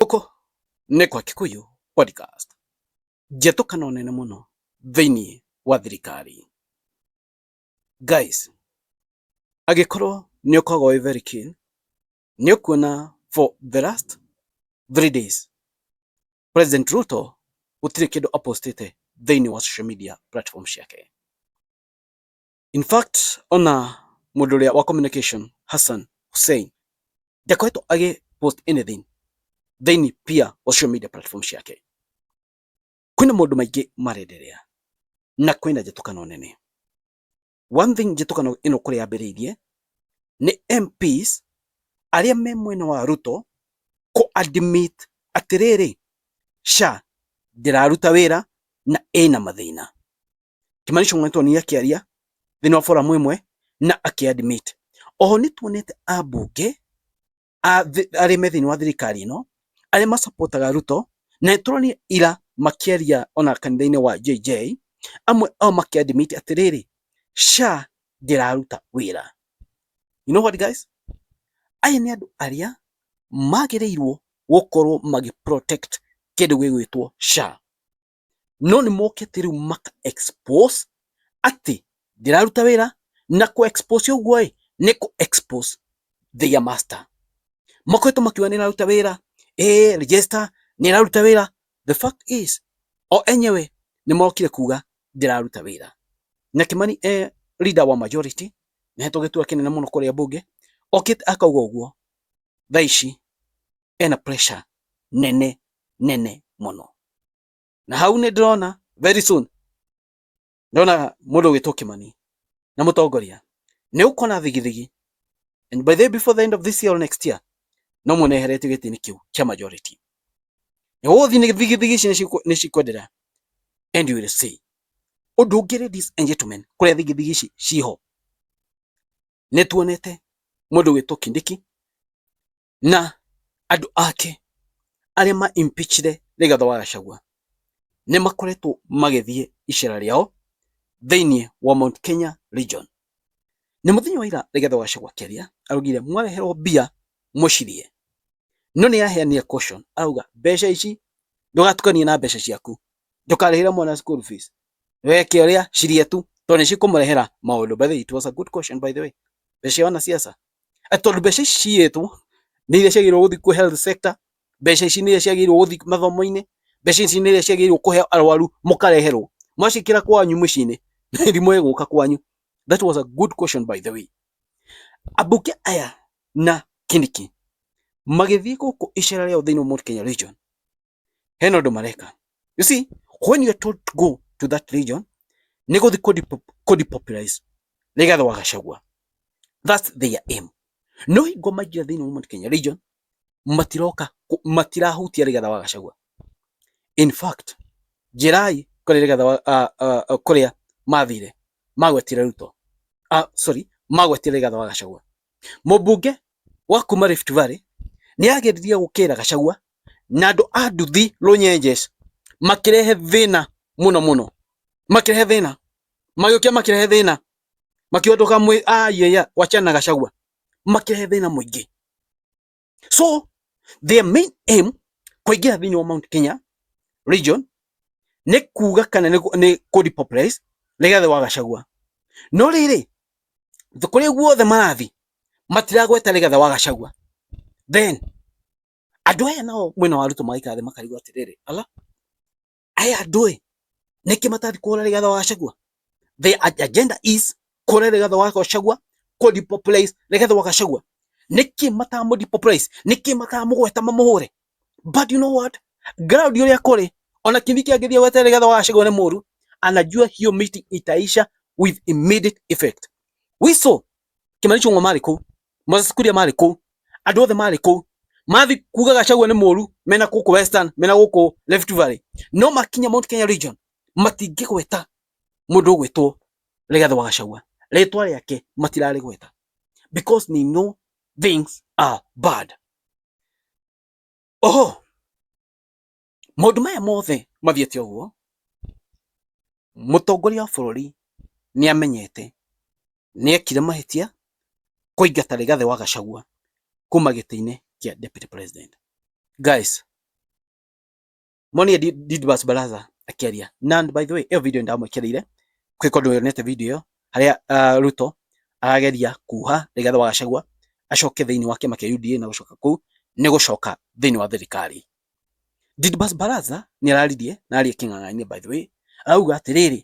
Gũkũ nĩ kwa Kikuyu Podcast, njĩtũkano nene mũno thĩinĩ wa thirikari. Guys, agĩkorwo nĩ ũkoragwo wĩ very keen, nĩ ũkuona for the last three days President Ruto gũtirĩ kĩndũ apostĩte thĩinĩ wa social media platform ciake. In fact, ona mũndũ ũrĩa wa communication Hassan Hussein ndakoretwo agĩ post anything thĩinĩ pia wa social media platform ciake. Kwĩna maũndũ maingĩ marenderea na kwĩna njĩtũkano nene. One thing njĩtũkano ĩno kũrĩa yambĩrĩirie nĩ MPs arĩa me mwena wa Ruto kũ admit atĩrĩrĩ SHA ndĩraruta wĩra na ĩna mathĩna. Kimani Ichung'wa nĩtuonire akĩaria thĩinĩ wa forum ĩmwe na akĩ admit. Oho nĩtuonete ambunge arĩa me thĩinĩ wa thirikari ĩno arĩa macopotaga Ruto na nĩtũronire ira makĩaria ona kanitha-inĩ wa JJ amwe ao makĩ admit atĩrĩrĩ SHA ndĩraruta wĩra. You know what guys? Aya nĩ andũ arĩa magĩrĩirwo gũkorwo magĩ protect kĩndũ gĩgwĩtwo SHA. no nĩ mokĩte rĩu maka expose atĩ ndĩraruta wĩra na kũ expose ũguo ĩ nĩ kũ expose their master makoretwo makiuga nĩ ĩraruta wĩra eh register nĩ ĩraruta wĩra the fact is o enyewe nĩ mokire kuga ndĩraruta wĩra na Kimani eh, leader wa majority nĩhetwo gĩtua kĩnene mũno kũrĩa mbunge okĩte akauga ũguo thaa ici ena pressure nene nene muno na hau ni ndirona very soon ndona mundu witwo kimani na mutongoria ni ukona thigithigi and by the before the end of this year or next year no muneheretio gitini kiu kia majority ni guthi ni thigithigi ici ni cikwendera and you will see undu ungi ladies and gentlemen kuria thigithigi ici ciho ni tuonete mundu witwo kindiki na andå ake arä a ma impeachire Rigathĩ wa Gachagua nĩ makoretwo magĩthiĩ icera rĩao thĩinĩ wa Mount Kenya region na mũthenya wa ira Rigathĩ wa Gachagua akĩaria araugire mwareherwo mbia mũcirie no nĩ araheanire caution arauga mbeca ici ndũgatukanie na mbeca ciaku ndũkarĩhĩre mwana school fees weke ũrĩa cirie tu tondũ nĩ cikũmũrehera maũndũ by the way it was a good caution by the way mbeca cia wanasiasa Tondũ mbeca ici ciiyĩtwo nĩ iria ciagĩrĩirwo gũthiĩ kwĩ health sector, mbeca ici nĩ iria ciagĩrĩirwo gũthiĩ mathomo-inĩ, mbeca ici nĩ iria ciagĩrĩirwo kũhe arũaru mũkareherwo. Mwaciĩkĩra kwanyu mũciĩ-inĩ mĩrimũ ĩgũka kwanyu. That was a good question by the way. Ambunge aya na Kindiki magĩthiĩ gũkũ icera rĩao thĩinĩ wa Mount Kenya region, hena ũndũ mareka you see when you are told to go to that region nĩ gũthi kũ depopularize Rigathi wa Gachagua that's their aim no hingo maingĩra thĩinĩ wa Mount Kenya region matiroka matirahutia Rigathi wa Gachagua in fact njirai kũrĩa Rigathi wa kũrĩa mathire magwetire Ruto ah sorry magwetire Rigathi wa Gachagua mũmbunge wa kuma Rift Valley nĩ ageririe gũkĩra Gachagua na andũ a nduthi runyenjes makirehe thina muno muno makirehe thina magĩũkia makirehe thina makiuga ndũkamwĩ ayaya wachana gacagua makirehe thina muingi so their main aim kuingira thini wa Mount Kenya region ni kuga kana ni ku depopularize Rigathi wa Gachagua no riri kuri guothe marathi matiragweta Rigathi wa Gachagua then Andũ aya nao mwena wa Ruto magaikara thĩ makarigwo atĩrĩrĩ, ala aya andũ ĩ nĩkĩ matathi kũhũra rĩgatha wa Gachagua? The agenda is kũhũra rĩgatha wa Gachagua, kũ depopulate rĩgatha wa Gachagua. Nĩkĩ matamũ depopulate? Nĩkĩ matamũgweta mamũhũre? But you know what? Ground ũrĩa kũrĩ ona Kindiki angĩthiĩ gwete rĩgatha wa Gachagua nĩ mũru, anajua hiyo meeting itaisha with immediate effect. We saw Kimani Ichung'wa marĩ kũu Moses Kuria marĩ kũu, andũ othe marĩ kũu mathi kuga Gachagua nĩ mũru mena gũkũ Western mena gũkũ Rift Valley no makinya Mount Kenya region matingĩgweta mũndũ ũgwĩtwo Rigathĩ wa Gachagua rĩtwa rĩake matirarĩgweta because they know things are bad. Oho Maũndũ maya mothe mathiĩte ũguo, mũtongoria wa bũrũri nĩ amenyete, nĩ ekire mahĩtia kũingata Rigathĩ wa Gachagua kuma gĩtĩ-inĩ kĩa Deputy President. Guys, monie Didbas Baraza akĩaria. Na by the way, ĩyo video ndamwĩkĩrĩire, kwĩ kũndũ yonete video ĩyo, harĩa ah, Ruto arageria kuha Rigathĩ wa Gachagua acoke thĩinĩ wa kĩama kĩa UDA na gũcoka kũu nĩ gũcoka thĩinĩ wa thirikari. Didimus Barasa nĩ araririe na arĩ kĩng'ang'a-inĩ by the way, arauga atĩrĩrĩ,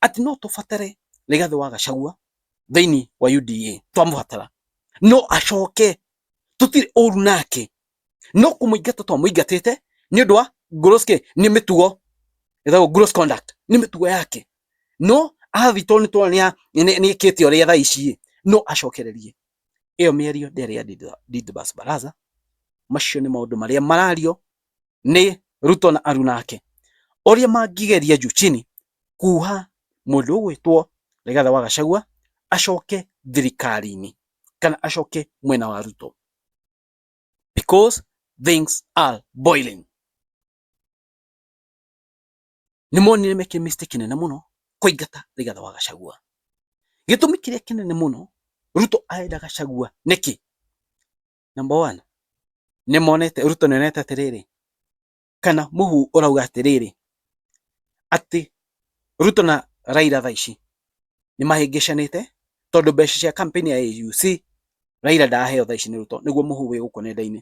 atĩ no tũbatare Rigathi wa Gachagua thĩinĩ wa UDA, twamũbatara no acoke, tũtirĩ ũru nake, no kũmũingata twamũingatĩte nĩ ũndũ wa gross kĩ, nĩ mĩtugo ĩtagwo gross conduct, nĩ mĩtugo yake, no athiĩ tondũ nĩ tũrona nĩ ekĩte ũrĩa thaa ici, no acokererie. Ĩyo mĩario ndĩarĩ ya Didibas Baraza, macio nĩ maũndũ marĩa marario nĩ Ruto na aruna ake. Ũrĩa mangĩgeria juu chini kuuha mũndũ ũgwĩtwo Rigathi wa Gachagua acoke thirikari-inĩ kana acoke mwena wa Ruto because things are boiling. nĩ monire meke mistake kĩnene mũno kũingata Rigathi wa Gachagua. Gĩtũmi kĩrĩa kĩnene mũno Ruto arenda Gachagua nĩkĩ? Number one, nĩ monete Ruto nĩ onete atĩrĩrĩ, kana mũhu ũrauga atĩrĩrĩ, atĩ Ruto na Raila thaa ici nĩ mahĩngĩcanĩte tondũ mbeca cia campaign ya AUC Raila ndaheo thaa ici nĩ Ruto, nĩguo mũhu wĩ gũkũ nenda-inĩ.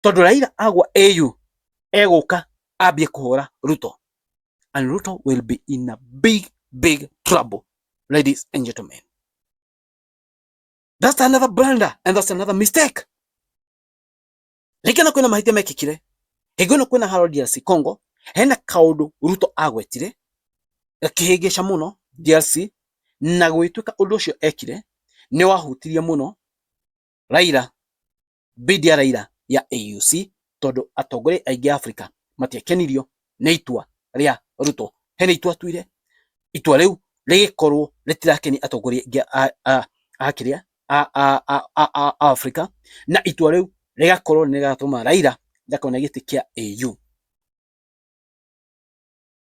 tondu Raila agwa AU eguka ambie kuhura Ruto and Ruto will be in a big big trouble ladies and gentlemen that's another blunder and that's another mistake rĩngĩ na kwĩna mahĩtia mekĩkire hingo ĩno kwĩna haro DRC Congo hena kaundu Ruto agwetire gakĩhĩngĩca muno DRC na gwĩtuĩka ũndũ ũcio ekire nĩ wahutirie mũno Raila Bidi ya Raila ya AUC tondũ atongoria aingĩ a Afrika matiakenirio nĩ itua rĩa Ruto. Hena itua atuire, itua rĩu rĩgĩkorwo rĩtirakeni atongoria aingĩ a kĩrĩa a Afrika, na itua rĩu rĩgakorwo nĩ rĩgatũma Raila ndakone gĩtĩ kĩa AU.